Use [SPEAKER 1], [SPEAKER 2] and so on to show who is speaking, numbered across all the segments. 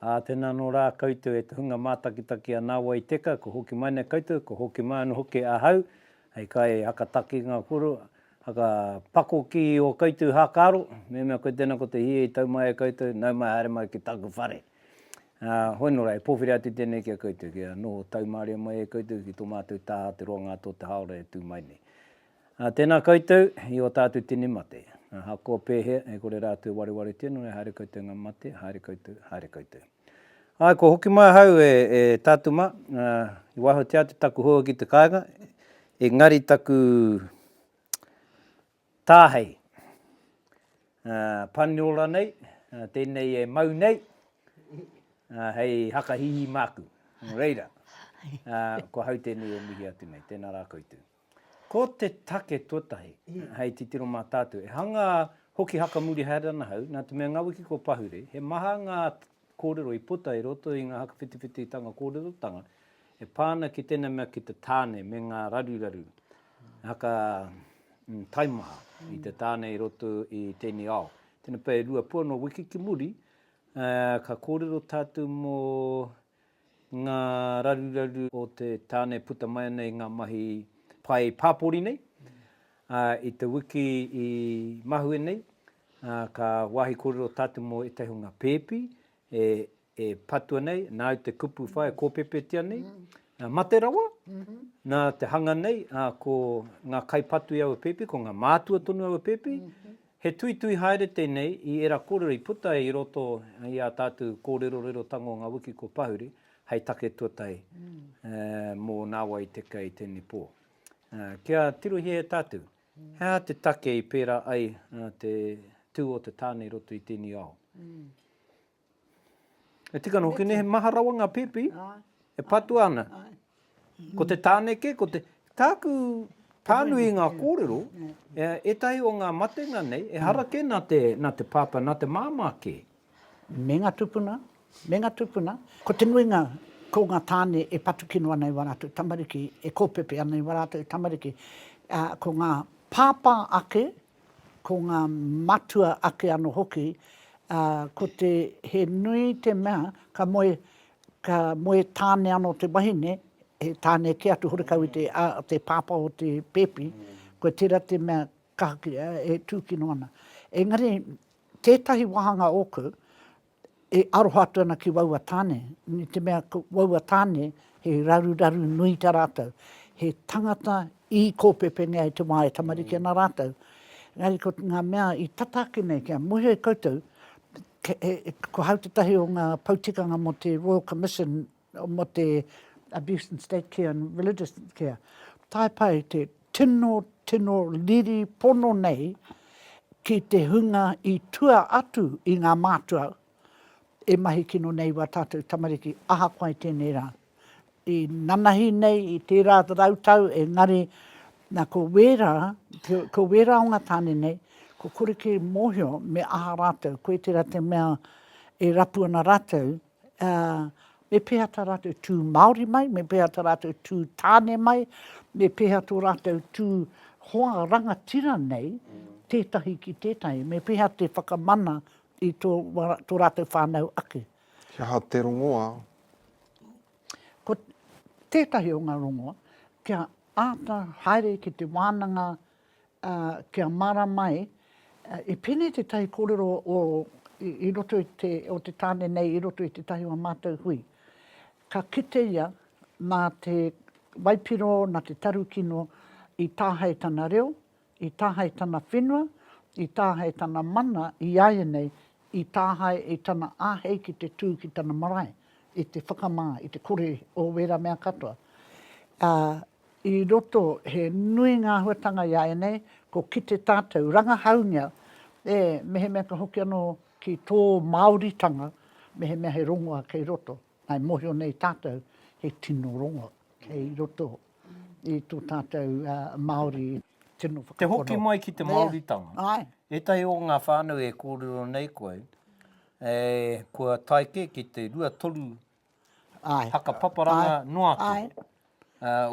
[SPEAKER 1] Ā, tēnā anō rā koutou e te hunga mātakitaki a Nāwai Teka, kua hoki mai nei koutou, kua hoki mai anō hoki ahau, hei kai hakatakinga koro, hakapakoki i ō koutou hākaro, mehemea koe tēnā ko te hī i tau mai e koutou, nau mai haere mai ki tāku whare. Ā, hoi nō rā, e pōwhiri atu tēnei ki a koutou, kia noho taumaria mai e koutou ki tō mātou taha te roanga atu o te hāora e tū mai nei. Tēnā koutou i ō tātou tini mate. Ahakoa pēhea, e kore rātou e warewaretia, nō reira haere koutou ngā mate, haere koutou, haere koutou. Āe, kua hoki mai ahau e, e tātou mā, i wahatia atu taku hoa ki te kāinga, engari taku tāhei, ā, Paniora nei, tēnei e mau nei, ā, hei haka hihi māku. Nō reira, ā, ko ahau tēnei e mihi atu nei. Tēnā rā koutou. Ko te take tuatahi, hei titiro mā tātou, e hanga hoki haka muri haere ana ahau, nā te mea ngā wiki kua pahure, he maha ngā kōrero i puta i roto i ngā haka whitiwhititanga kōrerotanga e pā ana ki tēnā mea ki te tāne me ngā raruraru haka taimaha i te tāne i roto i tēnei ao. Tēnā pea e rua pua nō wiki ki muri, ka kōrero tātou mō ngā raruraru o te tāne puta mai ana i ngā mahi pae pāpori nei. Ā, i te wiki i mahue nei, ā, ka wāhi kōrero tātou mō ētahi o ngā pēpi e, e patua nei, nāu te kupu whai e kōpēpētia nei, ā, mate rawa, nā te hanga nei, ā, ko ngā kaipatu i aua pēpi, ko ngā mātua tonu aua pēpi, He tuitui haere tēnei i ērā kōrero i puta i roto i ā tātou kōrerorerotanga o ngā wiki kua pahuri hei take tuatahi mō nāwai i te kei i tēnei pō. Kia tirohia e tātou, he aha te take i pērā ai te tū o te tāne i roto i tēnei ao? E tika ana hoki nei, he maha rawa ngā pēpi, e patua ana. Ko te tāneke, ko te... Tāku pānui i ngā kōrero, ētahi o ngā matenga nei, e hara kē nā te, nā te pāpā, nā te māmā kē. Me ngā
[SPEAKER 2] tūpuna, me ngā tūpuna. Ko te nuinga, ko ngā tāne e patu kino ana i wā rātou tamariki, e kōpepe ana i wā rātou tamariki. Ko ngā pāpā ake, ko ngā matua ake anō hoki, ā, ko te, he nui te mea, ka moe, ka moe tāne anō te wahine, he tāne kē atu horekau i te, a, te pāpā o te pēpi, koa tērā te mea ka, e tūkino ana. Engari, tētahi wāhanga ōku, e aroha atu ana ki waua tāne, i te mea ko waua tāne he raruraru nui ta rātou, he tangata i kōpepengea e te wā e tamariki ana rātou. Engari ko ngā mea i tata ake nei kia moe ai koutou, ko hau tētahi o ngā poutikanga mō te Royal Commission mō te abuse in state care and religious care, tae pā i te tino, tino riri pono nei ki te hunga i tua atu i ngā mātua e mahi kino nei i wā tātou tamariki, ahakoa i tēnei rā. I nanahi nei i tērā rautau engari nā ko wērā, ko wērā o ngā tāne nei, kua kore kē mōhio me aha rātou, koe tērā te mea e rapu ana rātou ā, me pēhea tā rātou tū Māori mai, me pēhea tā rātou tū tāne mai, me pēhea tō rātou tū hoa rangatira nei, tētahi ki tētahi, me pēhea te whakamana i tō, tō rātou whānau ake. He
[SPEAKER 3] aha te rongoā?
[SPEAKER 2] Ko tētahi o ngā rongoā, kia āta haere ki te wānanga ā, kia mārama ai, i pēnei tētahi kōrero o, i roto i te, o te tāne nei i roto i tētahi o ā mātou hui. Ka kite ia nā te waipiro, nā te tarukino i tāhae tana reo, i tāhae tana whenua, i tāhae tana mana iāianei, i tāhae i tana āhei ki te tū ki tana marae, i te whakamā, i te kore o wērā mea katoa. Ā. I roto, he nui ngā āhuatanga i a ēnei, ko kite tātou, rangahaungia e mehemea ka hoki anō ki tō Māoritanga, mehemea he rongoa kei roto, ā, e mōhio nei tātou, he tino rongo kei roto i tō tātou Māori tino whakapono. Te hoki mai ki te
[SPEAKER 1] Māoritanga. Āe. Ētahi
[SPEAKER 2] o ngā
[SPEAKER 1] whānau e kōrero nei koe, kua tae kē ki te rua toru whakapaparanga noa atu,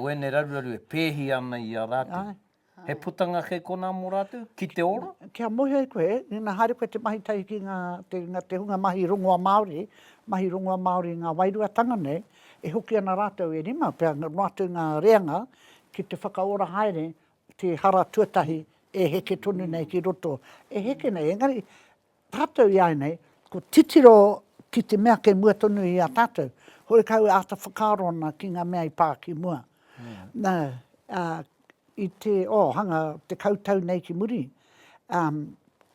[SPEAKER 1] wēnei raruraru e pēhi ana i a rātou. He putanga kei konā mō rātou, ki te ora? Kia moe ai koe,
[SPEAKER 2] ina haere koe te mahi tahi ki ngā te hunga mahi rongoa Māori, mahi rongoa Māori i ngā wairuatanga nei, e hoki ana rātou e rima pea noa atu ngā reanga ki te whakaora haere te hara tuatahi e heke tonu nei ki roto. E heke nei, engari Tātou iāinei, ko titiro ki te mea kei mua tonu i a tātou, horekau e āta whakaaro ana ki ngā mea i pā ki mua. Nā, ā, i te, oh, hanga tekau tau nei ki muri, ā,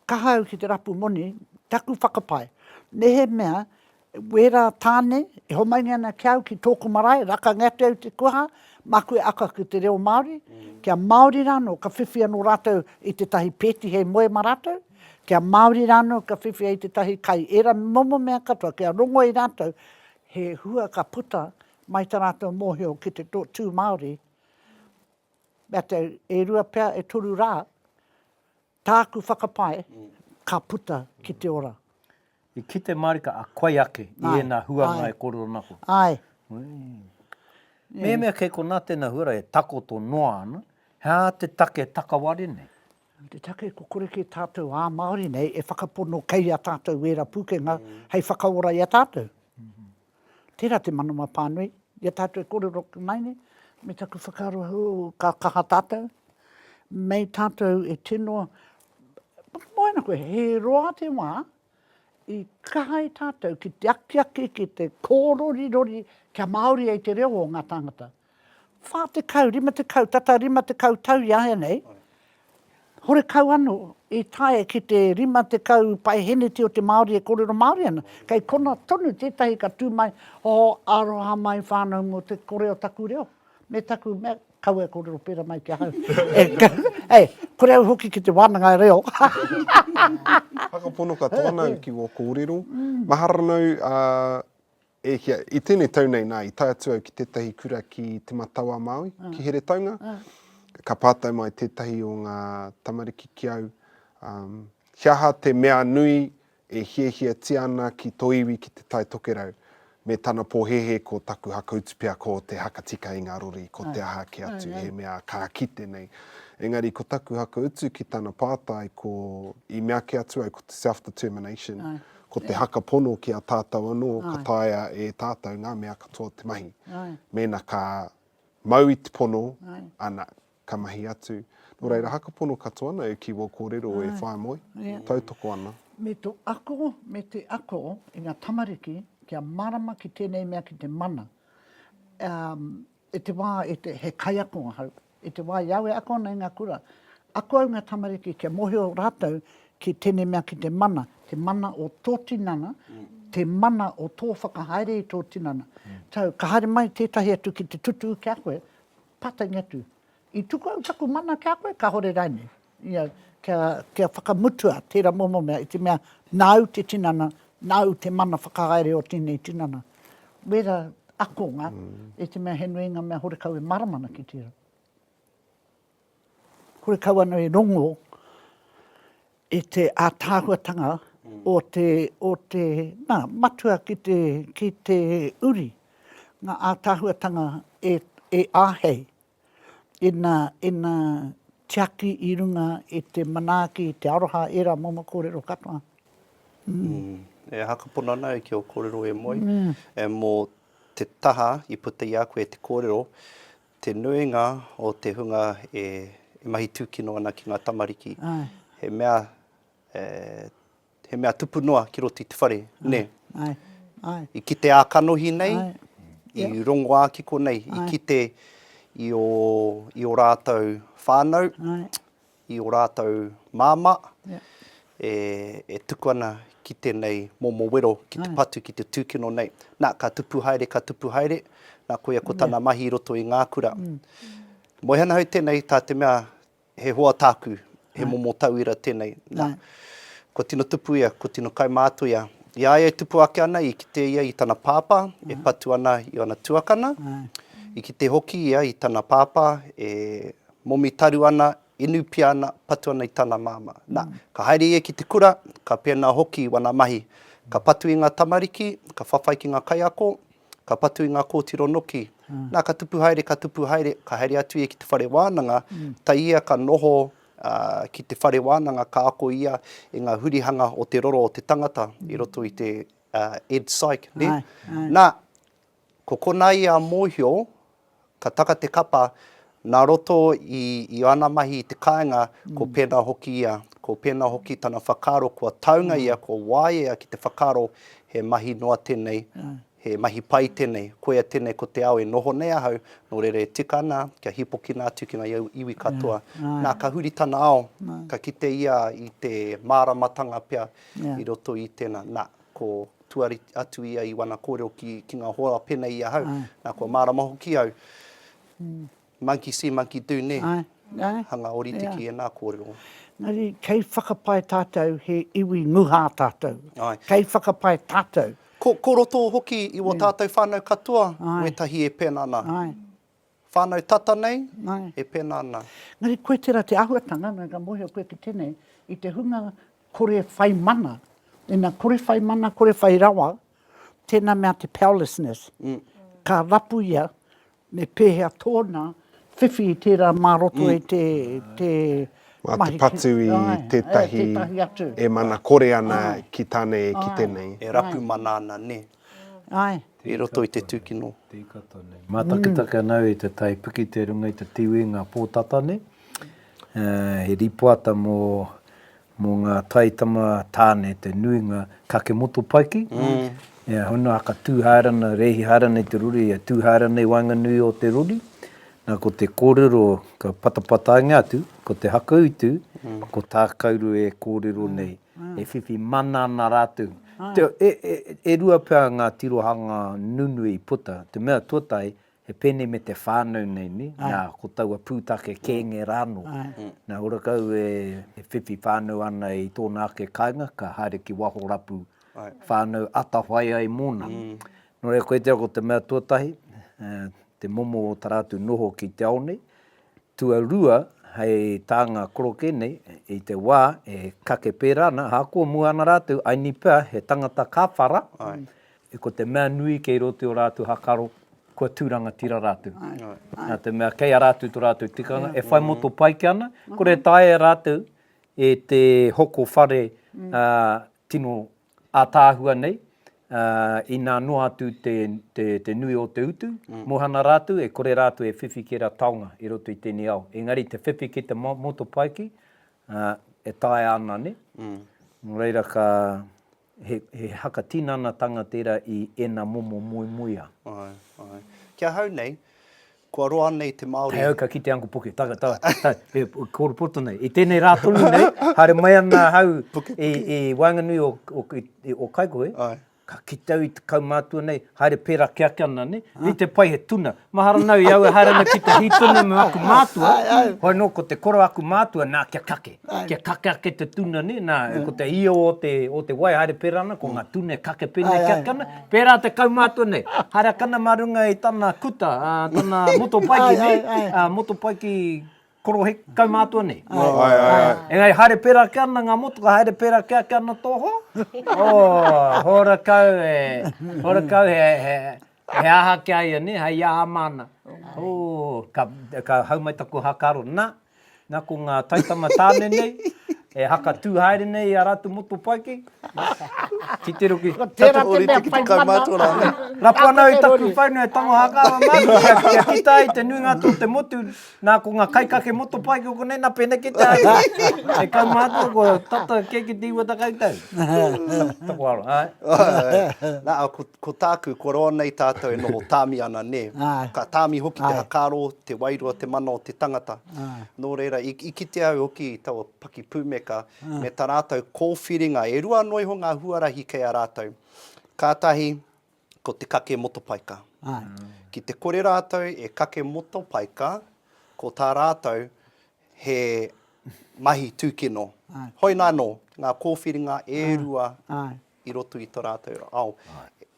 [SPEAKER 2] kaha au ki te rapu moni, taku whakapae, mehemea Wera Tane, e homaingi ana ki a au ki tōku marae, rakangi atu au i te kuaha, māku e ako ki te reo Māori, kia Māori rānō ka whiwhi anō rātou i tētahi pēti hei moe mā rātou, kia Māori rānō ka whiwhi hei tētahi kai, ērā momo mea katoa kia rongo i rātou, he hua ka puta mai tā rātou mōhio ki te tū Māori, mea te e rua pea, e toru rā, Tāku whakapae, ka puta ki te ora. I kite
[SPEAKER 1] marika a koe ake i ēnā huanga e kōrero ana koe. Āe. Mehemea kei konā tēnā huarahi e takoto noa ana, he aha te take e takaware nei? Te take ko
[SPEAKER 2] kore kē tātou ā Māori nei e whakapono kei a tātou ērā pūkenga hei whakaora i a tātou. Tērā te manawa pānui, i a tātou e kōrero ake mai nei, me taku whakaaro hou, ka kaha tātou, mei tātou e tino, whakamoana koe, he roa te wā i kaha e tātou ki te akiaki, ki te kōrorirori kia Māori ai te reo o ngā tāngata. Whā tekau, rima tekau, tata rima tekau tau i āianei, horekau anō i tae ki te rima tekau paeheneti o te Māori e kōrero Māori ana. Kei konā tonu tētahi ka tū mai, oh, aroha mai whānau mō te kore o taku reo, me taku mea, kaua e kōrero pērā mai ki ahau. Hei, kore au hoki ki te wānanga reo. Whakapono
[SPEAKER 3] katoa nāu ki wō kōrero. Mahara nōu, ā, E hia, i tēnei tau nei nā, i tae atu au ki tētahi kura ki Te Matau-a-Māui, ki Heretaunga, ka pātai mai tētahi o ngā tamariki ki au, um, he aha te mea nui e hiahiatia ana ki tō iwi ki Te Tai Tokerau, me tana pōhēhē ko taku hakautu pea ko te hakatika i ngā rori, ko te aha kē atu, he mea ka kite nei. Engari ko taku hakautu ki tana pātai ko, i meake atu au ko te self-determination, Ko te haka pono ki a tātou anō ka taea e tātou ngā mea katoa te mahi. Mēnā ka mau i te pono, ana, ka mahi atu. Nō reira, haka pono katoa ana e Kiwa Kōrero e Whaea Moe, tautoko ana. Me to ako,
[SPEAKER 2] me te ako i nga tamariki kia marama ki tenei mea ki te mana. E te wa he kaiako ahau. I te wā i awe ako ana i ngā kura, ako au i ngā tamariki kia mōhio rātou ki tēnei mea ki te mana, te mana o tō tinana, te mana o tō whakahaere i tō tinana. So, ka haere mai tētahi atu ki te tutū ki a koe, pātainga atu, i tuku au taku mana ki a koe, kāore rānei? you know, kia, kia whakamutua tērā momo mea, i te mea, nāu te tinana, nāu te mana whakahaere o tēnei tinana. Wērā akonga, i te mea he nui ngā mea horekau e mārama ana ki tērā. Horekau ana e rongo i te ātaahuatanga o te, o te, nā, matua ki te, ki te uri, ngā ātaahuatanga e, e āhei. ina, ina tiaki i runga i te manaaki, i te aroha, ērā momo kōrero katoa. E
[SPEAKER 4] aha ka pono ana au ki ō kōrero e moe? Mō te taha i puta i a koe te kōrero, te nuinga o te hunga e mahi tūkino ana ki ngā tamariki, he mea He mea tupu noa ki roto i te whare, nē? Āe, āe. I kite ā kanohi nei, i rongo ā kiko nei, i kite i ō, i ō rātou whānau, i ō rātou māmā, e, e tuku ana ki tēnei momo wero, ki te patu, ki te tūkino nei. Nā, ka tupu haere, ka tupu haere, nā, koia ko tana mahi i roto i ngā kura. Moe ana au tēnei, tā te mea, He hoa tāku, he momo tauira tēnei. Nā, kua tino tupu ia, kua tino kaimātoia. I a ia e tupu ake ana, i kite ia i tana pāpā e patu ana i ōna tuakana, i kite hoki ia i tana pāpā e momi taru ana, inu pia ana, patu ana i tana māmā. Nā, ka haere ia ki te kura, ka pēnā hoki i wana mahi. Ka patu i ngā tamariki, ka whawhai ki ngā kaiako, Ka patu i ngā kōtiro noki. Nā, ka tupu haere, ka tupu haere, ka haere atu ia ki te whare wānanga, tae ia ka noho ki te whare wānanga, ka ako ia i ngā hurihanga o te roro o te tangata i roto i te Ed Psych, nē? Nā, ko konā ia a mōhio, Ka taka te kapa, nā roto i i ana mahi i te kāinga, ko pēnā hoki ia, ko pēnā hoki tana whakaaro kua taunga ia, kua waea ki te whakaaro he mahi noa tēnei, he mahi pai tēnei, koia tēnei ko te ao e noho nei ahau, nō reira e tika ana kia hīpokina atu ki ngā iwi katoa. Nā, ka huri tana ao, ka kite ia i te māramatanga pea i roto i tēnā. Nā, ko tuari atu ia i wana korero ki ki nga hoa penei i ahau na kua marama hoki au monkey see monkey do ne hanga orite ki ena korero. Engari kei
[SPEAKER 2] whakapae tatou he iwi nguha tatou kei whakapae tatou. Ko ko roto
[SPEAKER 4] hoki i wo tatou whanau katoa wetahi e pena ana Whānau tata nei, e pēnā ana. Engari koe tērā te
[SPEAKER 2] āhuatanga, nō ka mōhio koe ki tēnei, i te hunga kore whai mana, ina kore whai mana, kore whai rawa, tēnā mea te powerlessness, ka rapu ia, me pēhea tōna whiwhi i tērā mā roto i te mahi. Mā te
[SPEAKER 3] patu i tētahi e mana kore ana ki tānei, ki tēnei. E rapu mana ana,
[SPEAKER 4] nē. Āe. i roto i te tūkino.
[SPEAKER 1] Mātakitaki ana au i te tai piki te runga i te tiwi ngā pōtata nei. He rīpoata mō mō ngā taitama tāne te nuinga kake motopaiki. E hono haka tū haere ana, rēhi haere ana i te rori, e tū haere ana i waenganui o te rori. Nā ko te kōrero ka patapatainga atu, ko te hakautu, ko tā kauru e kōrero nei, e whiwhi mana ana rātou. Teo, e, e, e rua pea ngā tirohanga nunui i puta, te mea tuatahi, he pēnei me te whānau nei, nē, nā, ko taua pūtake kēnge rā anō. Nā, ora kau e, e whiwhi whānau ana i tōna ake kāinga, ka haere ki waho rapu whānau atawhai ai mōna. Nō reira, koitia ko te mea tuatahi, te momo o tā rātou noho ki te ao nei, Tuarua hei tā ngā koroke nei, i te wā e kake pērā ana, ahakoa mua ana rātou, I ni pea he tangata ka whara, ko te mea nui kei roto i ō rātou hakaro, kua tū rangatira rātou. Nā te mea kei a rātou tō rātou tikanga e whai motopaike ana, kore taea e rātou e te hoko whare tino ātaahua nei, ā, inā noa atu te, te, te nui o te utu, mōhana rātou, e kore rātou e whiwhi ki ra taonga i roto i tēnei ao. Engari te whiwhi ki te mo, motopaiki, ā, e taea ana, nē? Nō reira ka, he, he haka tinanatanga tērā i ēnā momo moemoeā. Āe,
[SPEAKER 4] āe. Ki ahau nei, Kua roa nei te Māori. Hei au ka kite Uncle Puke,
[SPEAKER 1] taga, taga, taga, e kōru poto nei. I tēnei rā tonu nei, haere mai ana ahau i waenganui o Kaikohe, ka kite au i te kaumātua nei, haere pērā ke ake ana, nē, rite pai he tuna. Mahara nau i au e haere ana ki te hītone me aku mātua, hoi anō ko te koro a aku mātua, nā, kia kake, kia kake ake te tuna, nē, nā, ko te io o te wai haere pērā ana, ko ngā tuna e kake pēnei ke ake ana, Pērā te kaumātua nei, haere a Kana mā runga i tana kuta, tana motopaiki nei, motopaiki korohe kaumātua nei. Engari haere pērā ake ana ngā motoka, haere pērā ake ake ana tō hoa, oh, horakau e, horakau he, he, he aha ki a ia nei, hei aha māna. Oh, ka, ka hau mai taku haka aro, na, Na ko nga taitama tane nei e haka tu haere nei i a ratu motopaiki, titiro ki tatu ori te ki te
[SPEAKER 2] kaumātua
[SPEAKER 4] rānei. Rapu ana au i taku
[SPEAKER 1] whainu e tango hakawa māku kia, kia kita ai te nuinga tō te motu, na ko nga kaikake motopaiki o konei na pēnei kē te haere nei. E kaumātua kua tata kē ki te iwa takau tau. Taku aroha, āe. Āe, āe. Na, ko, Ko
[SPEAKER 4] tāku, kua roa nei tātou e noho tāmi ana, nē. Ka tāmi hoki te hakaaro, te wairua, te mana o te tangata. Nō reira, i, i kitea au hoki i taua pakipūmeka, me tā rātou kōwhiringa, e rua anō iho ngā huarahi kei a rātou. Ka tahi, ko te kake motopaika. Ki te kore rātou e kake motopaika, ko tā rātou he mahi tūkino. Hoi nā anō, ngā kōwhiringa e rua i roto i to ratou ao.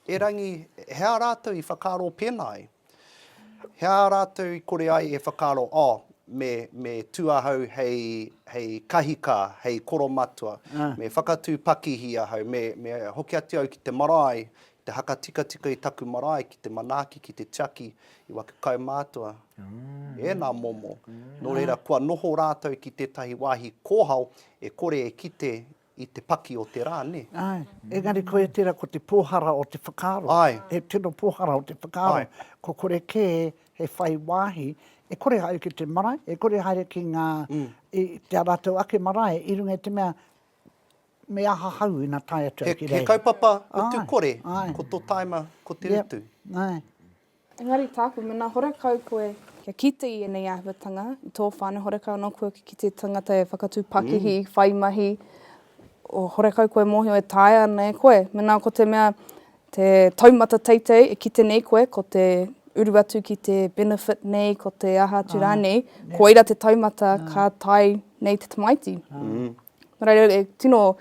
[SPEAKER 4] Erangi, he aha ratou i whakaaro pena ai? He aha ratou i kore ai e whakaaro, oh, me, me tu ahau hei, hei kahika, hei koromatua, me whakatu pakihi ahau, me, me hoki atu au ki te marae, te haka tikatika i taku marae ki te manaaki, ki te tiaki i waku kaumātua? Ena momo. No reira, kua noho ratou ki tetahi wahi kohao e kore e kite I te paki o te rā, nē? Āe. Engari
[SPEAKER 2] koia tērā ko te pōhara o te whakaaro. Āe. He tino
[SPEAKER 4] pōhara
[SPEAKER 2] o te whakaaro. Āe. Ko kore kē he whai wāhi e kore e haere ki te marae, e kore e haere ki ngā, i tā rātou ake marae i runga i te mea me aha hau ina tae atu au ki reira. He kaupapa o tū
[SPEAKER 4] kore, ko tō tāima ko te utu. Āe.
[SPEAKER 2] Engari
[SPEAKER 5] tāku mena horekau koe kia kite i ēnei āhuatanga i tō whānau, horekau anō koe ki te tangata e whakatū pakihi, whai mahi, horekau koe mōhio e taea ana e koe. Mena ko te mea te taumata teitei e kite nei koe, ko te uru atu ki te benefit nei, ko te aha atu rānei, koira te taumata ka tae nei te tamaiti. Nō reira, e tino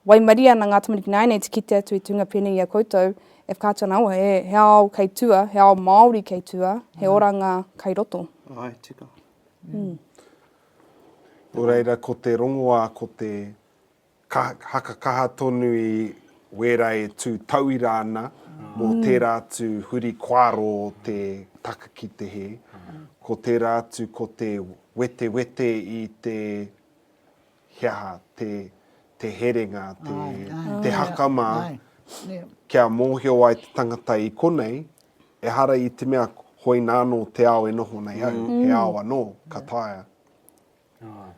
[SPEAKER 5] waimarie ana ngā tamariki nāianei te kite atu i te hunga pēnei i a koutou, e whakaatu ana, awa, he ao kei tua, he ao Māori kei tua, he oranga kei roto. Ae,
[SPEAKER 4] tika.
[SPEAKER 3] Nō reira, ko te rongoā, ko te haka kaha tonu i wērā e tū tauira ana mō tērā atu huri koaro o te taka ki te hē, ko tērā atu ko te wetewete i te he aha te, te herenga, te, te hakama, kia mōhio ai te tangata i konei, ehara i te mea hoina anō te ao e noho nei au, mm. he ao anō, ka taea. Ai.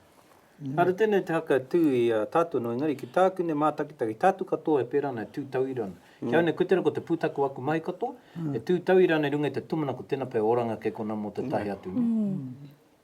[SPEAKER 1] Mm. Ara tēnei te haka tū i a tātou no, engari ki tāku ne mātakitaki, tātou katoa e pērā nei tū tauira ana. Mm. Ki au nei, koe ko te pūtaku aku mahi katoa, mm. e tū tauira ana i runga i te tumana ko tēnā pē oranga kei kona mō te tahi atu. Mm.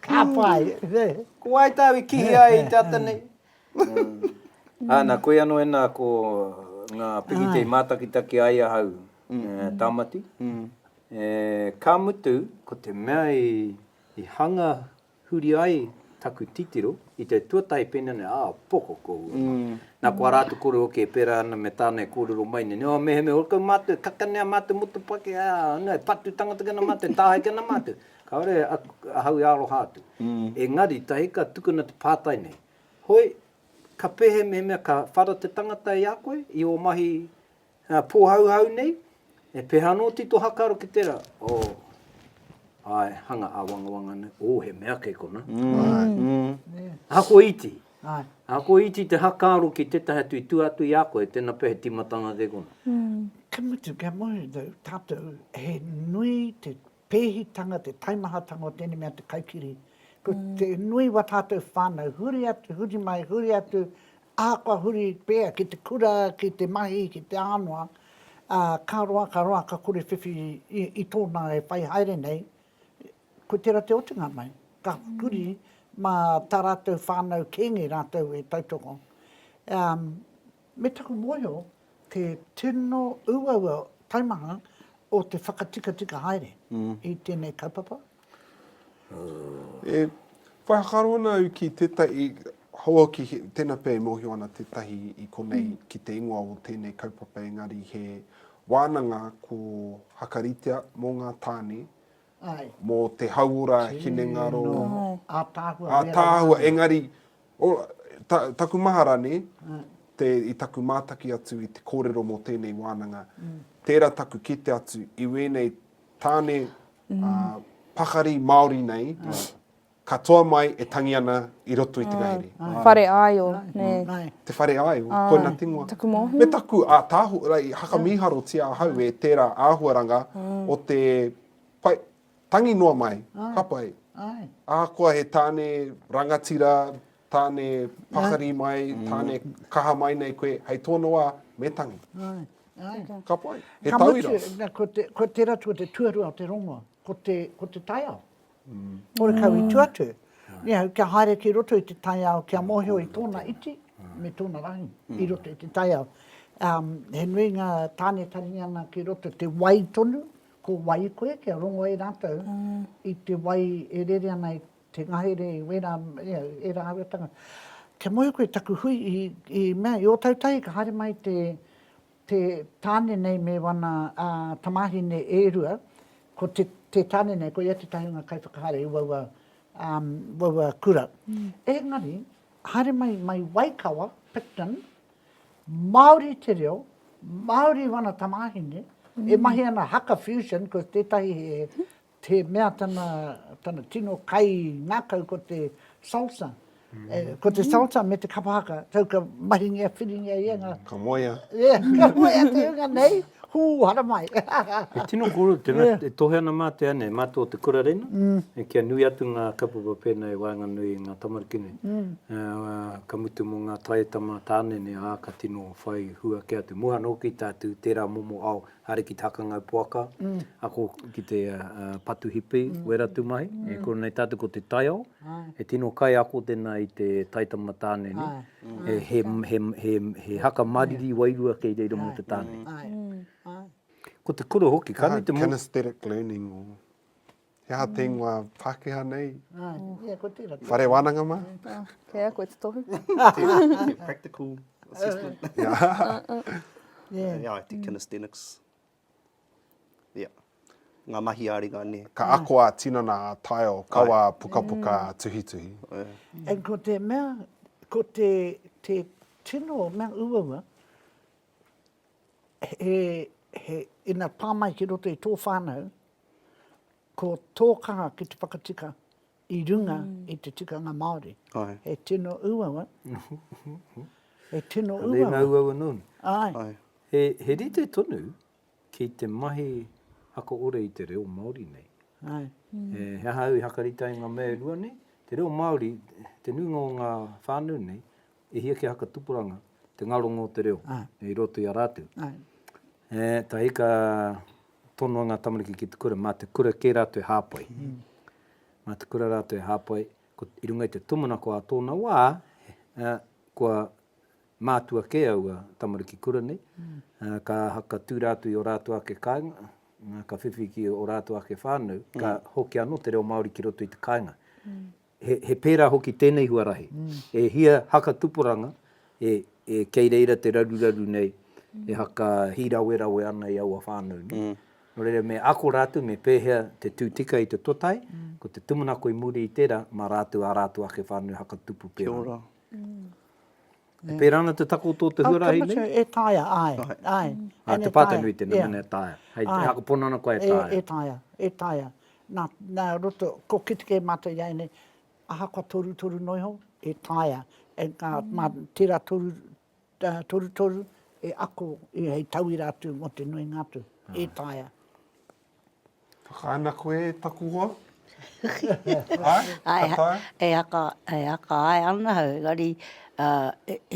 [SPEAKER 2] Ka pai, he. Ko wai tāu
[SPEAKER 1] i kihi ai i te ata nei? Ana, koe anō ena ko ngā pikiti i mātakitaki ai ahau, Tāmati. Ka mutu, ko te mea i hanga huri ai taku titiro i te tuatahi pēnei nei, ā, poko kōhua mā. Nā, ko ā rātou kore hoki e pērā ana me tāna e kōrero mai nei, nō, mehemea, ora kau mātou e kakanea mātou motopaki, ā, anō, e patu tangata ki ana mātou, e tāhae ki ana mātou. Kāore ahau e aroha atu. Engari, tahi ka tukuna te pātai nei, Hoi, ka pehe mehemea ka whara te tangata i a koe, i ō mahi pōhauhau nei? E peha anō ti to hakaro ki tera? Oh, ae, hanga awangawanga nei, oh, he mea kei kona. Ahakoa iti, ahakoa iti te hakaro ki tetahi atu i tua atu i a koe, tena pea he timatanga kei kona. Ka mutu, ka
[SPEAKER 2] moe tatou, he nui te pēhitanga, te taimahatanga o tēnei mea te kaikiri. Ko te nui wa tātou whānau, huri atu, huri mai, huri atu, ahakoa huri pea ki te kura, ki te mahi, ki te ānoa, ā, ka roa, ka roa, ka kore whiwhi i, i tōna e whai haere nei, ko tērā te otinga mai. Ka huri mā tā rātou whānau kēnge rātou e tautoko. Um, Me taku mōhio te tino uaua taimaha o te whakatikatika haere i tēnei kaupapa.
[SPEAKER 3] E whai whakaaro ana au ki tētahi, hou ki tēnā pea e mōhio ana tētahi i konei ki te ingoa o tēnei kaupapa engari he wānanga ko Hakaritea mō ngā tāne, mō
[SPEAKER 2] te hauora
[SPEAKER 3] hinengaro,
[SPEAKER 2] ātaahua engari
[SPEAKER 3] O, ta, taku mahara ne, te, i taku mātaki atu i te kōrero mō tēnei wānanga, tērā taku kite atu i wēnei tāne ā, pakari Māori nei, katoa mai e tangi ana i roto i te ngahere. Whare āio,
[SPEAKER 5] nē. Nāe. Te whare āio,
[SPEAKER 3] koina te ingoa. Taku mōhio. Me taku
[SPEAKER 5] ātaahu,
[SPEAKER 3] like, i hakamīharotia ahau e tērā āhuaranga o te pai, Tangi noa mai, ka pai. Ahakoa he tāne rangatira, tāne pakari mai, tāne kaha mai nei koe, hei tōna wā, me tangi. Ka pai, he tauira. Ka mutu, ko tērā
[SPEAKER 2] ko te tuarua o te rongoa, ko te taiao. Horekau i tua atu, niau, kia haere ki roto i te taiao, kia mōhio i tōna iti, me tōna rangi, i roto i te taiao. He nui ngā tāne taringa ana ki roto, te wai tonu, Ko wai koe kia rongo e ratou i te wai e rere ana i te ngahere i wera e raua tangata. Kia moe koe taku hui i mea i Otautahi ka haere mai te te tane nei me wana tamahine e rua ko te te tane nei koia tetahi o nga kaiwhakahaere i waua waua kura. Engari haere mai mai Waikawa, Picton, Māori te reo, Māori wana tamāhine, e mahi ana haka fusion, ko tētahi he he mea tana tana tino kai ngakau ko te salsa, ko te salsa me te kapa haka, tau ka mahingia whiringia ia nga. Ka moea.
[SPEAKER 3] Ka moea
[SPEAKER 2] te hunga nei. Hū, haramai! E tino
[SPEAKER 1] kōrero tēnā, e tohe ana mā te anei, mā tō te kura rena, kia nui atu ngā kaupapa pēnā i waenganui i ngā tamariki nei, ka mutu mō ngā taieta mā tāne nei, ā, ka tino whai hua kē atu. Mua anō ki tā tū tērā momo ao haere ki te hakangau poaka, ako ki te patu hipi, wera atu mahi, e kore nei tātou ko te taiao, e tino kaiako tēnā i te taitama tāne nei. he haka mariri wairua kei reira mō te tāne. Ko te kura hoki, ka nui te mō... Kinesthetic learning,
[SPEAKER 3] he aha te ingoa Pākehā nei?
[SPEAKER 2] Whare wānanga mā?
[SPEAKER 3] Kei a koe te
[SPEAKER 5] tohu.
[SPEAKER 4] Practical assessment. Yeah, I think kinesthetics. Ia. Ngā mahi a ringa nē. Ka ako a tinana
[SPEAKER 3] a Tile kawa a pukapuka a Tuhituhi. And ko
[SPEAKER 2] te mea, ko te tino mea uaua, he, he, ina pā mai ki roto i tō whānau, ko tō kaha ki te whakatika, i runga i te tikanga Māori. He tino uaua. He tino uaua. Ka nēnā uaua nōni.
[SPEAKER 1] Ai.
[SPEAKER 2] He rite
[SPEAKER 1] tonu ki te mahi ako ora i te reo Māori nei. Ai. He
[SPEAKER 2] aha au
[SPEAKER 1] i hakarite ai ngā mea e rua nei? Te reo Māori, te nuinga o ngā whānau nei, E hia kia hakatupuranga te ngaronga o te reo i roto i a ratou.
[SPEAKER 2] Tae
[SPEAKER 1] hika tonoa nga tamariki ki te kura, ma te kura ke ratou e hapai. Ma te kura ratou e hapai, i runga i te tumanako a tona wa, kua matua ke aua tamariki kura nei, ka hakatu ratou i o ratou ake kainga, ka whiwhi ki o ratou ake whanau, ka hoki ano te reo Maori ki roto i te kainga. he pērā hoki tēnei huarahi, e hia haka tupuranga e kei reira te raruraru nei, e haka hīrawerawe ana i aua whānau nei. Nō reira, me ako rātou me pēhea te tū tika i te totai, ko te tūmanako i muri i tērā, mā rātou ā rātou ake whānau haka tupu pērā. Kia ora. E pērā ana te takoto o te huarahi nei? E taea, āe,
[SPEAKER 2] āe. Ā, te pātaunui
[SPEAKER 1] tēnei, mēnā e taea. Hei, e akapona ana koa e taea. E taea, e taea.
[SPEAKER 2] Nā, nā roto, ko kite kē mātou i a ēnei, ahakoa torutoru noa iho, e taea. Engā, mā tērā toru, torutoru, e ako hei tauira atu mō te nuinga atu. E taea.
[SPEAKER 3] Whakaana koe e taku hoa? Hai? Ka
[SPEAKER 6] taea? E haka, e haka hae ana au, engari,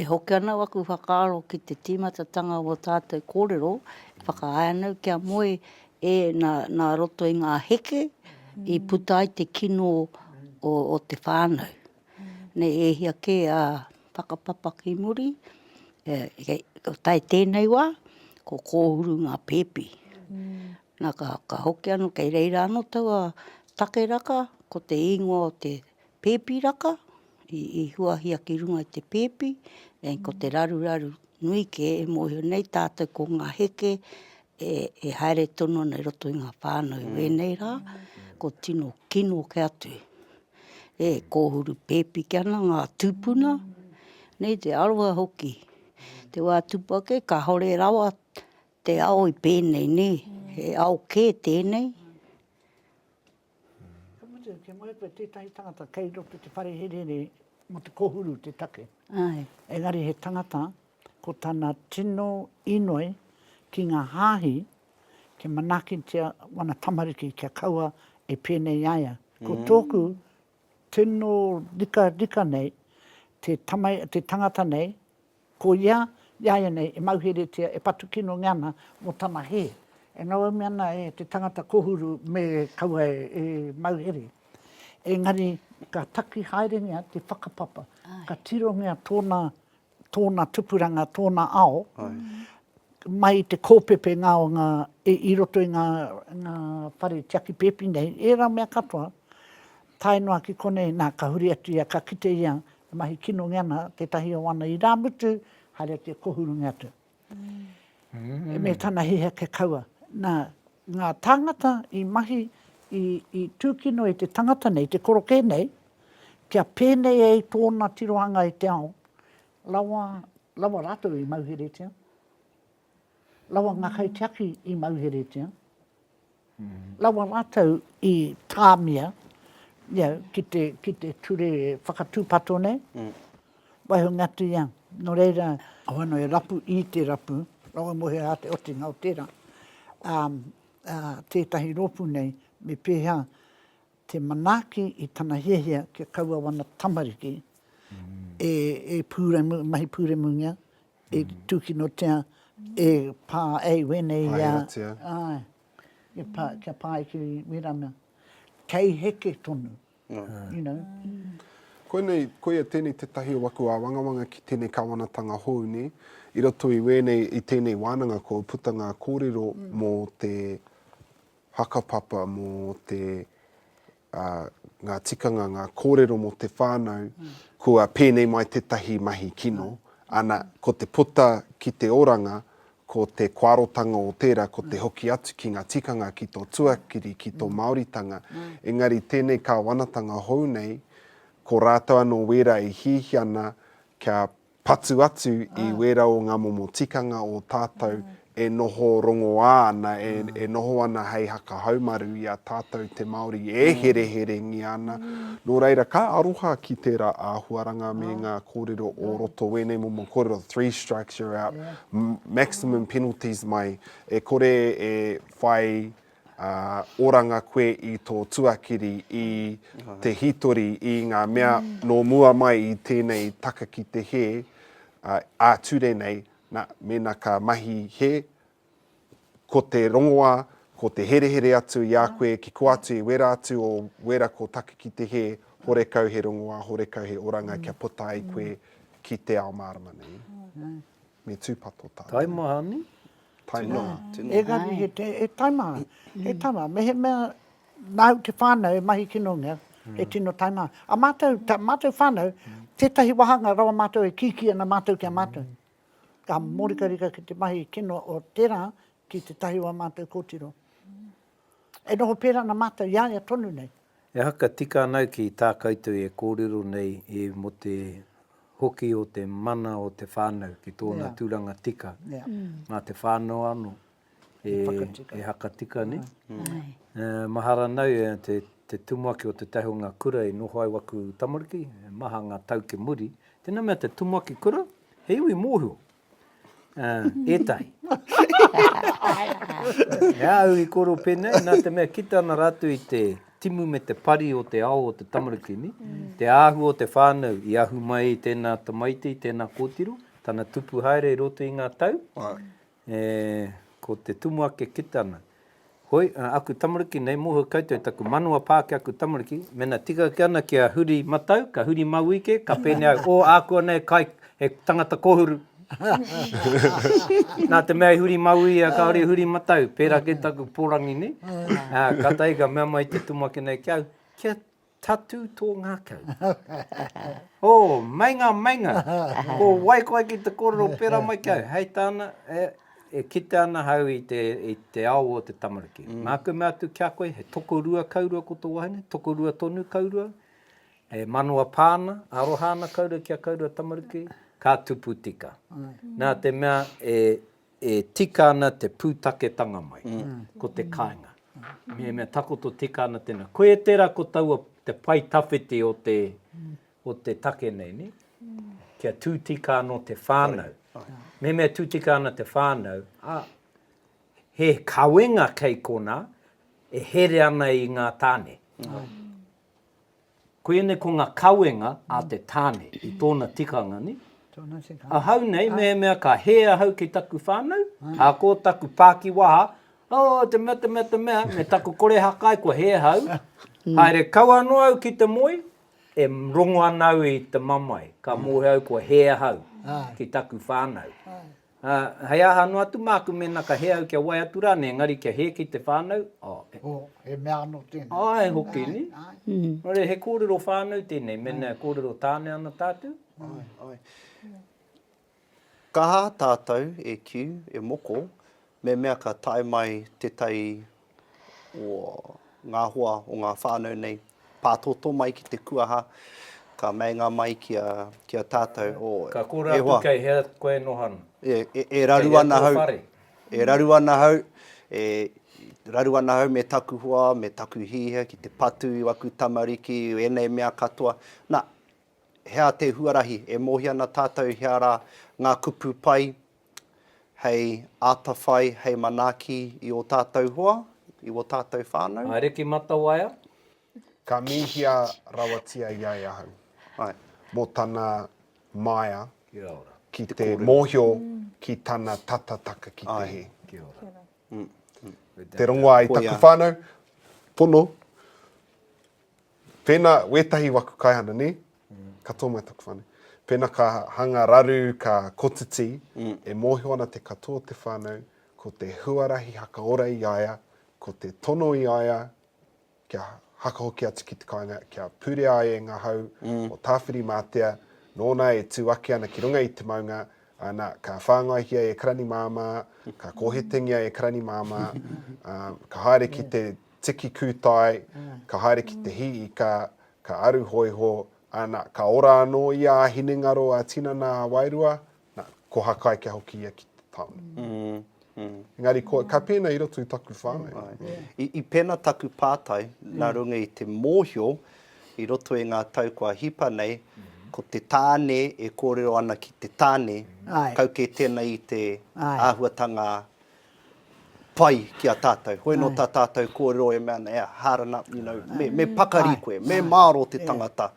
[SPEAKER 6] e hoki ana aku whakaaro ki te tīmatatanga o ō tātou kōrero, e whakaae ana au kia moe e, nā, nā roto i ngā heke i puta ai te kino o, o te whānau. Nei, e hia kē a Whakapapa ki muri, e, e, ko tai tēnei wā, ko kōhuru ngā pēpi. Na, ka hoki ano, kei reira ano taua take raka, ko te ingoa o te pepi raka, i huahia ki runga i te pepi, nei ko te raruraru nui ke, e mohio nei tatou ko nga heke e haere tonu ana i roto i nga whanau wenei ra, ko tino kino ke atu, e kohuru pepi ke ana nga tupuna, nei te aroha hoki. Te wa tupu ake, kahore rawa Te ao i pēnei nē, he ao kē tēnei.
[SPEAKER 2] Ka mutu, kia moe koe tētahi tangata kei roto te whare herehere mō te kōhuru te take. Āe. Engari
[SPEAKER 6] he tangata
[SPEAKER 2] ko tana tino inoi ki ngā hāhi kia manaakitia wana tamariki kia kaua e pēnei i a ia. Ko tōku tino rikarika nei te tangata nei, Ko ia, iāianei, e mauheretia, e patu kinonge ana mō tana hē. E ngauaumi ana e te tangata kōhuru me kaua e mauhere. Engari, ka taki haerengia te whakapapa, ka tirongia tōna, tōna tupuranga, tōna ao, mai i te kōpepe ngā o ngā, i roto i ngā, ngā whare tiaki pēpi nei, ērā mea katoa, Tae noa ki konei, nā, ka huri atu ia, ka kite ia e mahi kinonge ana tētahi o ana irāmutu, haere atu e kōhurunga atu. Me tana hiheke kaua. Nā, ngā tāngata i mahi, i, i tūkino e te tangata nei, te korokē nei, kia pēnei ai tōna tirohanga i te ao, rawa, rawa rātou i mauheretia. rawa ngā kaitiaki i mauheretia, rawa rātou i tāmia you know, ki, te, ki te ture whakatūpato nei, mm. waiho ngatu ia. Nō reira, hoano e rapu i te rapu, rawa mohe a te otinga o tērā, um, uh, tētahi rōpū nei, me pēhea te manaaki i tana hiahia kia kaua wana tamariki mm. e, e pūremu, mahi pūremungia, I tūkinotia e Pā ei wēnei ia. Pāheratia. Āe, e Pā, kia pā ai ki Mirana. Kei heke tonu, you know. Koinei,
[SPEAKER 3] koia tēnei tētahi o aku āwangawanga ki tēnei Kāwanatanga hou nei, i roto i wēnei, i tēnei wānanga kua puta ngā kōrero mō te whakapapa, mō te ā, ngā tikanga, ngā kōrero mō te whānau, kua pēnei mai tētahi mahi kino, ana, ko te puta ki te oranga, ko te koarotanga o tērā, ko te hoki atu ki ngā tikanga, ki tō tuakiri, ki tō Māoritanga, engari tēnei kāwanatanga hou nei, ko rātou anō wērā e hiahia ana kia Patu atu i wērā o ngā momo tikanga o tātou e noho rongoā ana, e noho ana hei haka haumaru i a tātou te Māori e hereherengia ana. Nō reira, ka aroha ki tērā āhuaranga me ngā kōrero o roto, wēnei momo kōrero, three strikes you're out, maximum penalties mai, e kore e whai Ā, oranga koe i tō tuakiri, i te hītori, i ngā mea nō mua mai i tēnei taka ki te hē, ā, ā-ture nei, nā, mēnā ka mahi hē, ko te rongoā, ko te herehere atu i a koe ki kō atu i wērā atu o wērā kō taka ki te hē, horekau he rongoā, horekau he oranga kia puta ai koe ki te ao mārama nei. Me tūpato tā te reo. Taimaha ne?
[SPEAKER 1] Taimaha.
[SPEAKER 3] Engari he te,
[SPEAKER 2] he taimaha, he taimaha. Mehemea nāu te whānau e mahi kino ngia, he tino taimaha. A mātou, tā mātou whānau, tētahi wāhanga rawa mātou e kīkī ana mātou ki a mātou. Ka mōrikarika ki te mahi kino o tērā ki tētahi o ā mātou kōtiro. E noho pērā ana mātou i a ia tonu nei. Ehara ka tika
[SPEAKER 1] ana ki tā koutou e kōrero nei e mō te hoki o te mana o te whānau ki tōna tūranga tika. Nā te whānau anō e hakatika nei. Mahara nau e te tumuaki o te tahi o ngā kura e noho ai waku tamariki, e maha ngā tau ki muri. Tēnā mea te tumuaki kura, he iwi mōhio. Uh, etahi. e au i koro pēnei, nā te mea kita ana rātou i te timu me te pari o te ao o te tamarukini, mm. te āhua o te whānau i ahu mai i tēnā tamaiti, i tēnā kōtiro, tana tupu haere i roto i ngā tau, e, ko te tumu ake kitana. Hoi, aku tamariki nei, moho koutou taku manawa pā ki aku tamariki, mena tika ake ana kia huri matau, ka huri mauī ke, ka pēnei au, o, ākuanei e kai, he tangata kōhuru. Nā te mea i huri mauī ia kāore i huri matau, pērā kē taku pōrangi nei, ā, kātahi ka mea mai te tumuaki nei ki au, kia. Tatū tō ngākau. Ō, meinga, meinga! Ko wai koe ki te kōrero pērā mai ki au? Hei tāna, e, e kite ana au i te, i te ao o te tamariki. Nāku mea atu ki a koe, he tokorua kaurua ko tō wahine, tokorua tonu kaurua, e manawa pā ana, aroha ana kaurua ki a kaurua tamariki, ka tupu tika. Nā te mea, e, E tika ana te pūtaketanga mai, ko te kāinga. Mehemea takoto tika ana tēnā. Koia tērā ko taua te pae tawhiti o te, o te take nei, nē? Kia tū tika anō te whānau. Mehemea tū tika ana te whānau, ā, he kawenga kei konā e here ana i ngā tāne. Koinei ko nga kawenga a te tane i tona tikanga ni. Ahau nei mehemea ka he ahau ki taku whanau, a ko taku pakiwaha, oh te mea te mea te mea, me taku kore hakai kua he ahau, haere kau ano au ki te moe, e rongo ana au i te mamae, ka mohe au kua he ahau ki taku whanau. Ā, hei aha anō atu māku mēnā ka hē au kia wai atu rānei, engari kia hē ki te whānau? Ā, he. Ō, he
[SPEAKER 2] mea anō tēnei. Ā, he hoki nei.
[SPEAKER 1] Nō reira, he kōrero whānau tēnei, mēnā e kōrero tāne ana tātou. Āe,
[SPEAKER 4] āe. Kaha tātou e kiu, e moko, me mea ka tae mai te tai o ngā hoa o ngā whānau nei, pātōtō mai ki te kuaha, ka meinga mai ki a, ki a tātou, o, e hoa. Ka kōrero atu kei
[SPEAKER 1] hea koe e noho ana. E, e, e raru
[SPEAKER 4] ana hau. Kei hea tō whare. E raru ana hau, e raru ana hau me taku hoa, me taku hīhia ki te patu i aku tamariki, i ēnei mea katoa. Nā, hea te huarahi, e mōhio ana tātou hea rā ngā kupu pai, hei atawhai, hei manaaki i ō tātou hoa, i wō tātou whānau. Haere ki Matawaia.
[SPEAKER 1] Ka
[SPEAKER 3] mīhia rawatia ia e ahau. Ai. Mō tana maea. Kia ora. Ki te mōhio ki tana tata taka ki te hē. Ai. Kia ora. Kia
[SPEAKER 1] ora.
[SPEAKER 3] Te rongoā i taku whānau. Pono. Pēnā, wētahi waku kaihana, nē? Katoa mai taku whānau. Pēnā ka hanga raru, ka kotiti, e mōhio ana te katoa o te whānau, ko te huarahi hakaora i a ia, ko te tono i a ia kia hakahoki atu ki te kāinga, kia purea ai e ngā hau o Tāwhirimātea, nōna e tū ake ana ki runga i te maunga, ā, nā, ka whāngaihia e Karani māmā, ka kōhetengia e Karani māmā, ā, ka haere ki te. Tiki kūtai, ka haere ki te hī ika, ka aru hōiho, ā, nā, ka ora anō ia ā hinengaro ā tinana ā wairua, nā, ko Hakai kia hoki ia ki te tāone. Engari ko, ka pēnā i roto i taku whānau. Āe. I pēnā
[SPEAKER 4] taku pātai, nā runga i te mōhio i roto i ngā tau kua hipa nei, ko te tāne e kōrero ana ki te tāne, kau kē tēnei i te āhuatanga pai ki a tātou. Hoi anō tā tātou kōrero e mea ana, e hard ana, you know, me, me pakari koe, me mārō te tangata,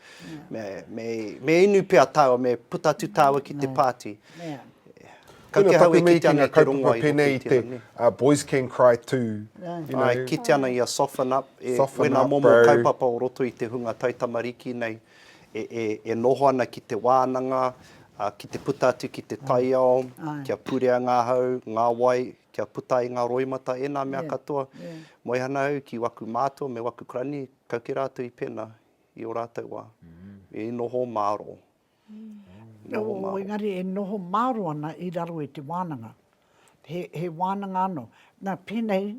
[SPEAKER 4] me, me, me inu pea tāua, me puta atu tāua ki te pāti.
[SPEAKER 3] Kau te hau e kitea nei te rongoa i hoki i tērā, nē? Ā, boys can cry too, you know. Āe, kitea
[SPEAKER 4] ana ia soften up, e, wēnā momo kaupapa o roto i te hunga taitamariki nei. e noho ana ki te wānanga, ki te puta atu ki te taiao, kia purea ngā hau, ngā wai, kia puta ai ngā roimata, ēnā mea katoa. Moe ana au ki waku mātua me waku karani, kau kē rātou i pena i ō rātou wā. I noho māro. Engari
[SPEAKER 2] e noho māro ana i raro i te wānanga. He wānanga anō. Nā, pēnei,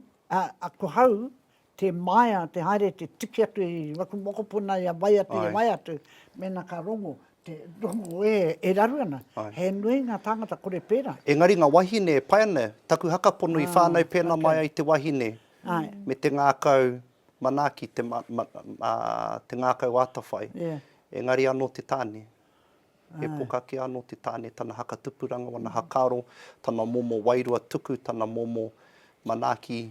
[SPEAKER 2] ko hau, Te maea, te haere, te tiki atu i waku mokopuna ia wai atu, ia wai atu, mena ka rongo, te rongo e, e raru ana. He nui nga tangata kore pera. Engari nga wahine e
[SPEAKER 4] pai ana, taku hakapono i whanau pena mai ai te wahine, me te ngakau manaaki, te ngakau atawhai. Engari ano te tane. He pokake ano te tane, tana hakatupuranga, wana hakaaro, tana momo wairua tuku, tana momo manaaki,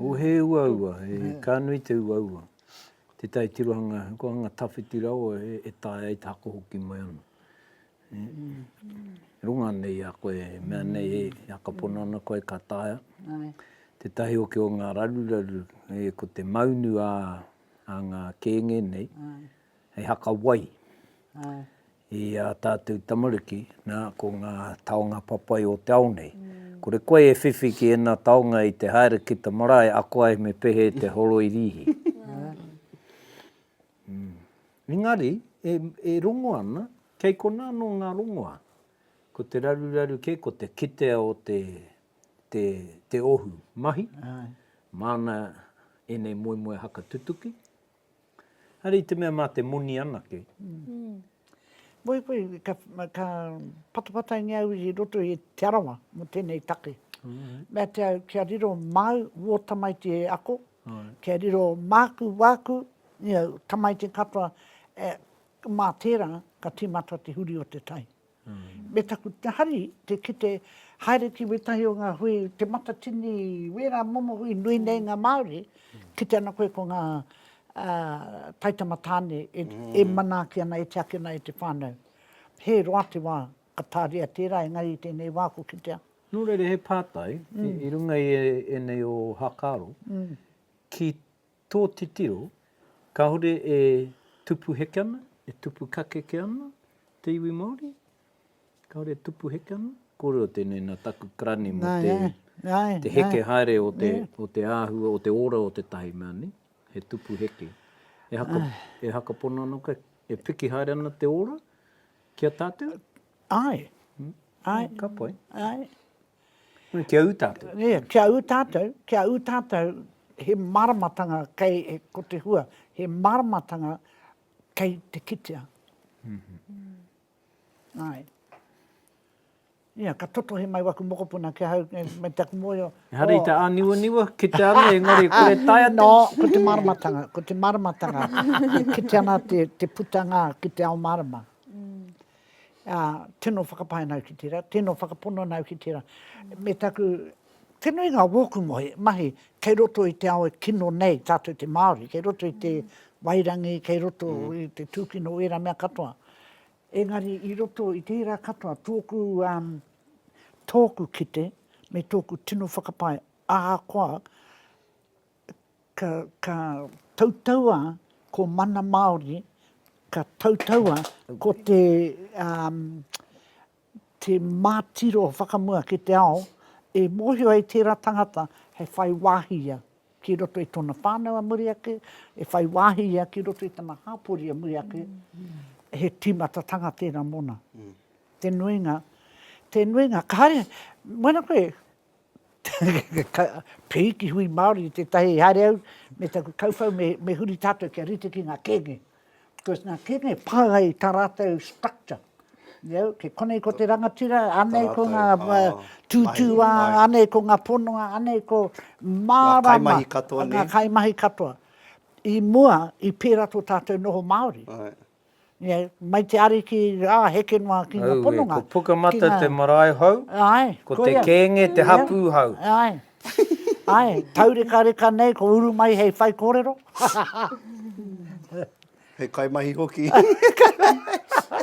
[SPEAKER 1] O he uaua, ka nui te uaua. Te tai tirohanga, ko anga tawhiti rawa e tae ai te hako hoki mai ana. E runga ana i a koe, e mea nei e hakapono ana koe ka taea. Te
[SPEAKER 2] tahi hoki
[SPEAKER 1] o nga raruraru, ko te maunu a nga kenge nei, hei haka wai.
[SPEAKER 2] i ā
[SPEAKER 1] tātou tamariki, nā, ko ngā taonga papai o te ao nei. Kore koe e whiwhi ki ēnā taonga i te haere ki te marae, ako ai me pehe te horo i rīhi. Engari, e, e rongo ana, kei konā anō ngā rongoā. Ko te raruraru kē, ko te kitea o te, te, te ohu mahi. Māna ēnei moemoeā haka tutuki, Haere i te mea mā te moni anake.
[SPEAKER 2] Moe koe, ka patapataingia au i roto i Te Arawa mō tēnei take. Mea te au kia riro māu wō tamaiti e ako, kia riro māku, wāku, tamaiti katoa, mā tērā ka tīmata te huri o te tai. Me taku hari te kite haere ki wētahi o ngā hui, Te Matatini, wērā momo hui nui nei ngā Māori, kite ana koe ko ngā taitama tāne e manaaki ana, e tiaki ana e te whānau. He roa te wā ka tāria tērā, engari i tēnei wā ko kitea. Nō reira, he
[SPEAKER 1] pātai, i runga i ēnei o Hakaaro, ki Tō titiro, kāore e tupu heke ana, e tupu kakeke ana te iwi Māori? Kāore e tupu heke ana? Kōrero tēnei nā taku karani mō te heke haere o te āhua, o te ora o tētahi mea, nē? He tupu heke. E hakapono ana koe, e piki haere ana te ora ki a tātou? Āe.
[SPEAKER 2] Āe.
[SPEAKER 1] Ka pai. Āe.
[SPEAKER 2] Kia
[SPEAKER 1] ū tātou. Ia, kia ū tātou,
[SPEAKER 2] kia ū tātou he māramatanga kei, ko te hua, he māramatanga kei te kitea. Āe. Ia, ka totohe mai waku mokopuna ki ahau, me taku mōhio. Ehara i te āniwaniwa,
[SPEAKER 1] kitea ana, engari e kore tae atu. Nō, ko te māramatanga,
[SPEAKER 2] ko te māramatanga, e kite ana te putanga ki te ao mārama. Ā, tino whakapae ana au ki tērā, tino whakapono ana au ki tērā. Me taku, te nuinga o wōku mohi, mahi, kei roto i te ao e kino nei tātou te Māori, kei roto i te wairangi, kei roto i te tūkino o ērā mea katoa. Engari i roto i tērā katoa, tōku, tōku kite me tōku tino whakapae, ahakoa ka, ka tautaua ko Mana Māori, ka tautaua ko te, um, te mātiro whakamua ki te ao, e mōhio ai tērā tangata he whai wāhi ia ki roto i tōna whānau a muri ake, he whai wāhi ia ki roto i tana hāpori a muri ake, he tīmatatanga tērā mōna. Te nuinga, te nuinga, ka haere, mōna koe, Pīki hui Māori i tētahi haere au me taku kauwhau me huri tātou kia rite ki ngā kēnge. Because ngā kēnge pānga i tā rātou structure. Kei konei ko te rangatira, anei ko ngā tūtūā, anei ko ngā pononga, anei ko mārama. Ngā
[SPEAKER 4] kaimahi katoa.
[SPEAKER 2] I mua, i pērā tō tātou noho Māori. Ia, mai te Ariki rā, heke noa ki ngā pononga. Auē, ko Pukamata te
[SPEAKER 1] marae hou, ko Te Kēnge te hapū hou. Āe,
[SPEAKER 2] āe, taurekareka nei, ko uru mai hei whaikōrero.
[SPEAKER 4] Hei kaimahi hoki.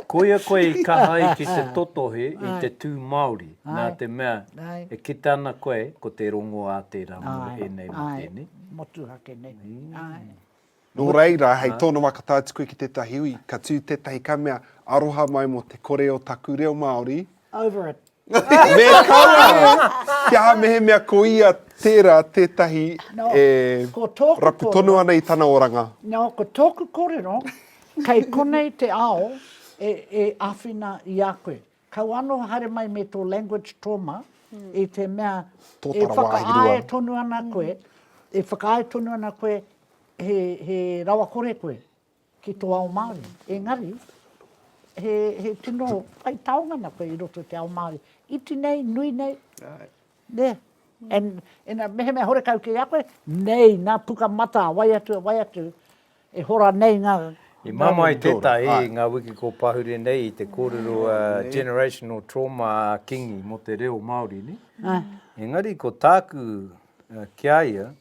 [SPEAKER 1] Koia koe i kaha ai ki te totohe i te tū Māori, nā te mea, e kite ana koe, ko te rongo ā tērā moe ēnei mō tēnei. Āe, motuhake nei.
[SPEAKER 2] Āe.
[SPEAKER 3] Nō reira, hei tōna wakatātuku ki tētahi hui, ka tū tētahi ka mea, Aroha mai mō te kore o taku reo Māori. Over it.
[SPEAKER 2] Me kaua!
[SPEAKER 3] Kia aha mehemea ko ia tērā tētahi e rapu tonu ana i tana oranga. Nō, ko tōku
[SPEAKER 2] kōrero, kei konei te ao e āwhina i a koe. Kau ano haere mai me to language trauma i te mea e whakaae tonu ana koe, e whakaae tonu ana koe he rawakore koe ki to ao Maori. Engari, he tino pai taonga ana koe i roto i te ao Maori. Iti nei, nui nei, nea. And, mehemea horekau kei a koe, nei, na puka mata, wai atu, wai atu. E hora nei nga Dragon Daughter. I mamae
[SPEAKER 1] tetahi i nga wiki ko pahure nei i te korero a Generational Trauma a Kingi mo te reo Maori ne. Engari ko taku ki a ia,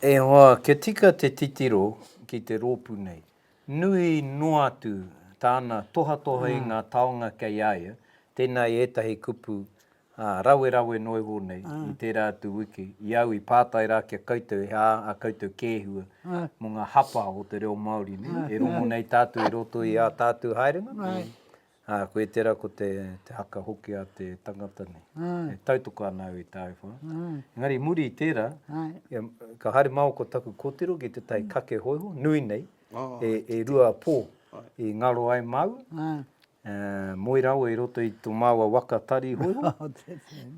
[SPEAKER 1] e hoa kia tika te titiro ki te ropu nei. Nui noa atu tana tohatoha i nga taonga kei a ia, tena i etahi kupu Ā, rawerawe noa iho nei, i tērā atu wiki, i au i pātai rā ki a koutou he aha ā koutou kēhua mō ngā hapa o te reo Māori nei, e rongo nei tātou i roto i ā tātou haerenga, ā, koia tērā ko te haka hoki a te tangata nei. E tautoko ana au i tāu whā. Engari i muri i tērā, ka haere māua ko taku kōtiro ki te tai kake hōiho, nui nei, e rua pō i ngaro ai māu, moe rawa i roto i tō māua waka tari ihoiho,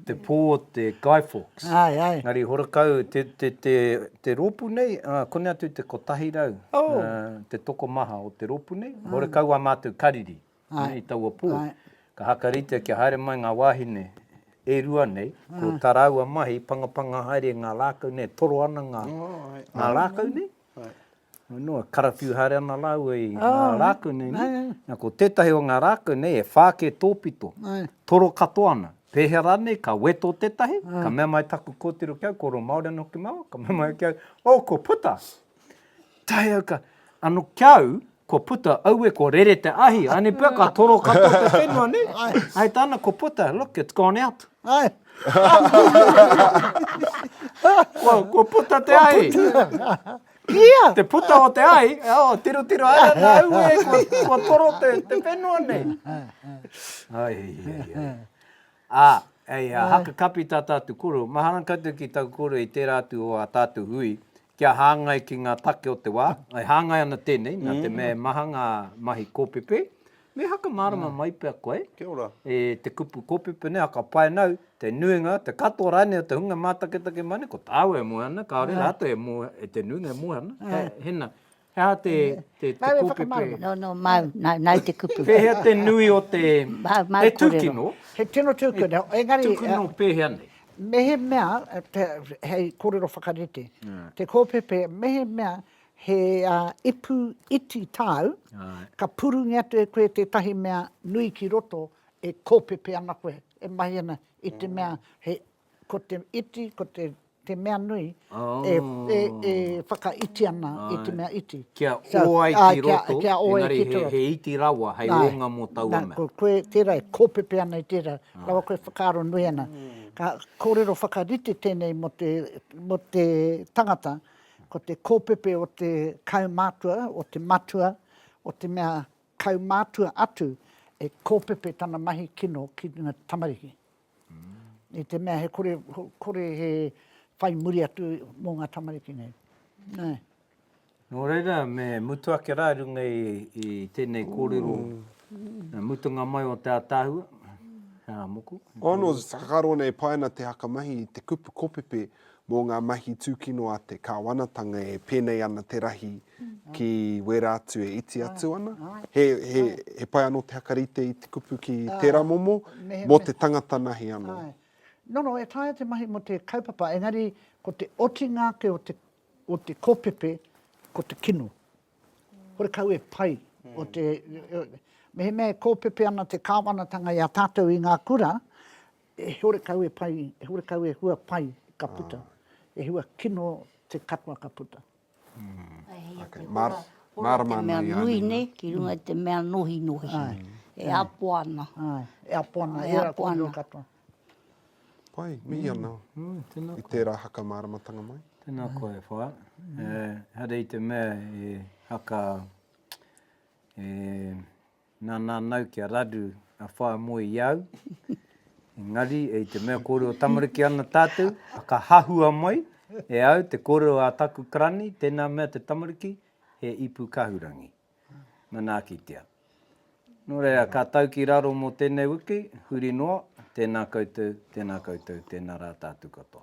[SPEAKER 1] te pō o te Guy Fawkes. Ngāri Horakau, te rōpū nei, kone atu te kotahi rau, te tokomaha o te rōpū nei, Horakau wā mātou kariri i taua pō. Ka hakaritea kia haere mai ngā wāhine e rua nei, ko tā rāua mahi, pangapanga haere ngā rākau nei, e toro ana ngā rākau nei. Anō, karawhiu haere ana rāua i ngā rākau nei, nē? Nā, ko tētahi o ngā rākau nei e whā kē tōpito, toro katoa ana. Pēhea rānei, ka weto tētahi, ka mea mai taku kōtiro ki au, kōrero Māori ana hoki māua, ka mea mai ki au, oh, ko puta! Tae au ka, anō ki au, Ko puta, aue ko rere te ahi, aenei pea ka toro katoa te whenua nei. Hai tana ko puta, look it's gone out. Hai. ko, ko puta te ahi. Ia! Te puta o te ahi, oh, tiro tiro ara na aue ko, ko toro te, te whenua nei. Ai, ai, ai. Ah, ei a haka kapi tā tātou koro, mahana koutou ki tāku koro i tērā atu o ā tātou hui, kia hāngai ki ngā take o te wā. E hāngai ana tēnei, nā te mea e maha ngā mahi kōpēpē, me hakamārama mai pea koe e
[SPEAKER 4] te kupu
[SPEAKER 1] kōpēpē nei, whakapae nau, te nuinga, te katoa rānei o te hunga mātaketake mai nei, ko tāua e moe ana, kāore rātou e moe, te nuinga e moe ana, he nā, He aha te kōpepē? No, no, māu,
[SPEAKER 6] nāu te kupu. Pēhea te nui o
[SPEAKER 1] te... Māu, māu kōrero. He tūkino. He tino
[SPEAKER 2] tūkino, engari... Tūkino pēhea nei?
[SPEAKER 1] Mehemea,
[SPEAKER 2] hei kōrero whakarite, te kōpepē, mehemea he ipu iti tāu, ka purungia atu e koe tētahi mea nui ki roto e kōpepē ana koe, e mahi ana i te mea he, ko te iti, ko te te mea nui e whakaiti ana i te mea iti. Kia ō ai ki
[SPEAKER 1] roto, engari he iti rawa hei ōnga mō taua mea. Koe tērā e kōpepe
[SPEAKER 2] ana i tērā, rawa koe e whakaaro nui ana. Ka kōrero whakarite tēnei mō te tangata, ko te kōpepe o te kaumātua, o te matua, o te mea kaumātua atu e kōpepe tana mahi kino ki ngā tamariki. i te mea he kore, kore he whai muri atu mō ngā tamariki nei. Nē. Nō
[SPEAKER 1] reira, me mutu ake rā runga i, i tēnei kōrero, mm. mutunga mai o te ātaahua, hea moku.
[SPEAKER 3] Oh, no, whakaro nei paina te hakamahi i te kupu kopepe mō ngā mahi tūkino a te kāwanatanga e pēnei ana te rahi ki wērā atu e iti atu ana. He, he, he pai anō te hakarite i te kupu ki ah, tērā momo, mehe, mō te tangata nahi anō. Ai. No, no, e taia
[SPEAKER 2] te mahi mo te kaupapa, engari ko te otinga ake o te, o te kopepe, ko te kino. Kore kau e pai. Mm. O te, mehe mea e kōpepe ana te kāwanatanga i a tātou i ngā kura, e hore kau e pai, e hore kau e hua pai ka puta. Ah. E hua kino te katoa ka puta.
[SPEAKER 3] Mārama ana i a Nīna.
[SPEAKER 6] Ki runga i te mea nohinohi. E apo ana. E apo ana.
[SPEAKER 2] E apo ana.
[SPEAKER 3] Pai, mihi ana. I tērā haka māramatanga mai. Tēnā koa e wha.
[SPEAKER 1] Haere i te mea e haka e... Na nanau kia raru a whae moe i au, engari i te mea kore o tamariki ana tatou, ka hahua mai e au te korero a taku karani, tena mea te tamariki, he ipu kahurangi. Manaakitia. No reira, ka tau ki raro mo tenei wiki, huri noa, tena koutou, tena koutou, tena ra tatu
[SPEAKER 2] katoa.